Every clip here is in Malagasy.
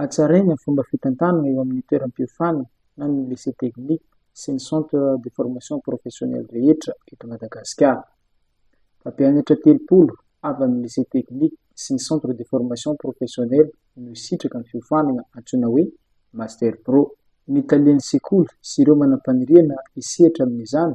Hatsaraina ny fomba fitantanana eo amin'ny toeram-piofana na ny lycée technique sy ny centre de formation professionnelle rehetra eto Madagasikara. Mpampianatra telopolo avy amin'ny lycée technique sy ny centre de formation professionnelle no hisitraka ny fiofanana antsoina hoe Master Pro. Ny talen'ny sekoly sy ireo manam-paniriana hisehatra amin'izany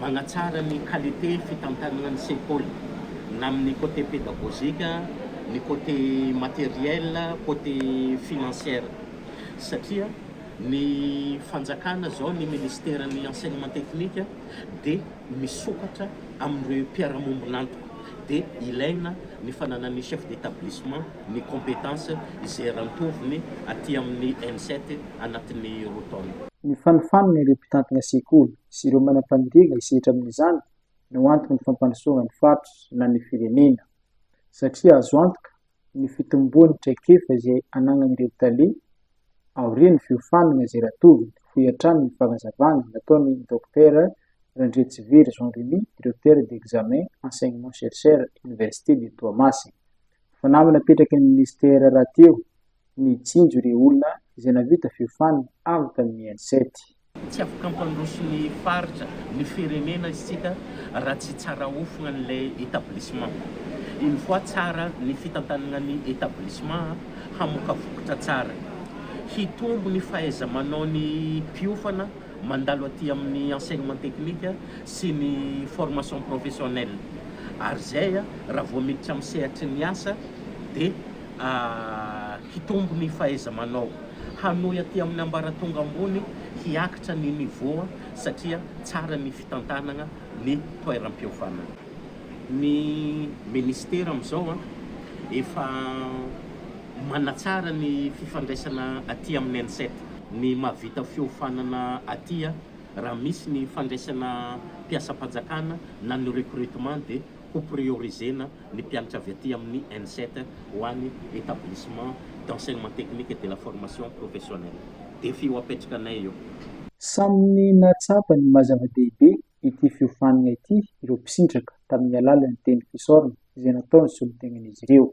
Manatsara ny qualité fitantanana ny sekoly na amin'ny côté pédagogique, ny côté matériel, côté financière. Satria ny fanjakana zao, ny ministeran'ny enseignement technique dia misokatra amin'ireo mpiara-mombon'antoka. Dia ilaina ny fananan'ny chef d'établissement ny compétence izay eran-tovony aty amin'ny ENSET anatin'ny roa taona. Nifanofanana ireo mpitantana sekoly sy ireo manam-paniriana hisehatra amin'izany no antoky ny fampandrosoana ny faritra na ny firenena. Satria azo antoka ny fitomboan'ny traikefa izay anagnan'ireo tale aorian'ny fiofanana izay ratoviny, hoy hatrany ny fanazavana nataon'i Dokotera Randriatsivery Jean Remy, Directeur d'Examen, Enseignement-Chercheur, Université de Toamasina. Fanamby napetraky ny Minisitera rahateo nijinjo ireo olona izay nahavita fiofanana avy tamin'ny headset. Tsy afaka hampandroso ny faritra, ny firenena isika raha tsy tsara hofona an'ilay établissement. Une fois tsara ny fitantanana ny établissement, hamoaka vokatra tsara. Hitombo ny fahaiza-manaon'ny mpiofana mandalo aty amin'ny enseignement technique sy ny formation professionnelle. Ary izay, raha vao miditra amin'ny sehatry ny asa dia. hitombo ny fahaiza-manao, hanohy aty amin'ny ambaratonga ambony, hiakitra ny niveau satria tsara ny fitantanana ny toeram-pihaovanana. Ny Ministera amin'izao efa manatsara ny fifandraisana aty amin'ny Ensat. Ny mahavita fihofanana aty, raha misy ny fandraisana mpiasam-panjakana na ny recrutement dia. ho prioriser-na ny mpianatra avy aty amin'ny Enset ho any Etablissement d'Enseignement Technique et de la Formation Professionnelle. Défi ho apetrakanay io. Samy nahatsapa ny maha-zava-dehibe ity fiofanana ity ireo mpisitraka tamin'ny alalan'ny teny fisaorana izay nataony solontenan'izy ireo.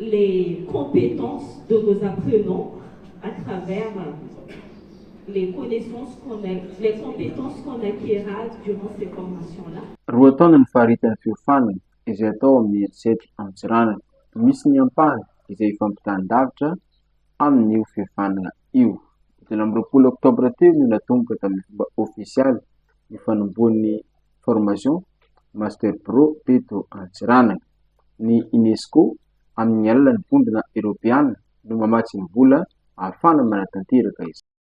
les compétences de nos apprenants à travers les connaissances qu'on a les compétences qu'on acquerra durant ces formations là. Roa taona ny faritany fiofanana izay atao amin'ny herisetra Antsiranana. Misy ny ampahany izay ifampitan-davitra amin'io fiofanana io. Telo amby roapolo oktobra teo no natomboka tamin'ny fomba ofisialy ny fanombohan'ny formation Master Pro teto Antsiranana. ny UNESCO amin'ny alalan'ny Vondrona Eoropeana no mamatsy ny vola ahafahana manatanteraka izany.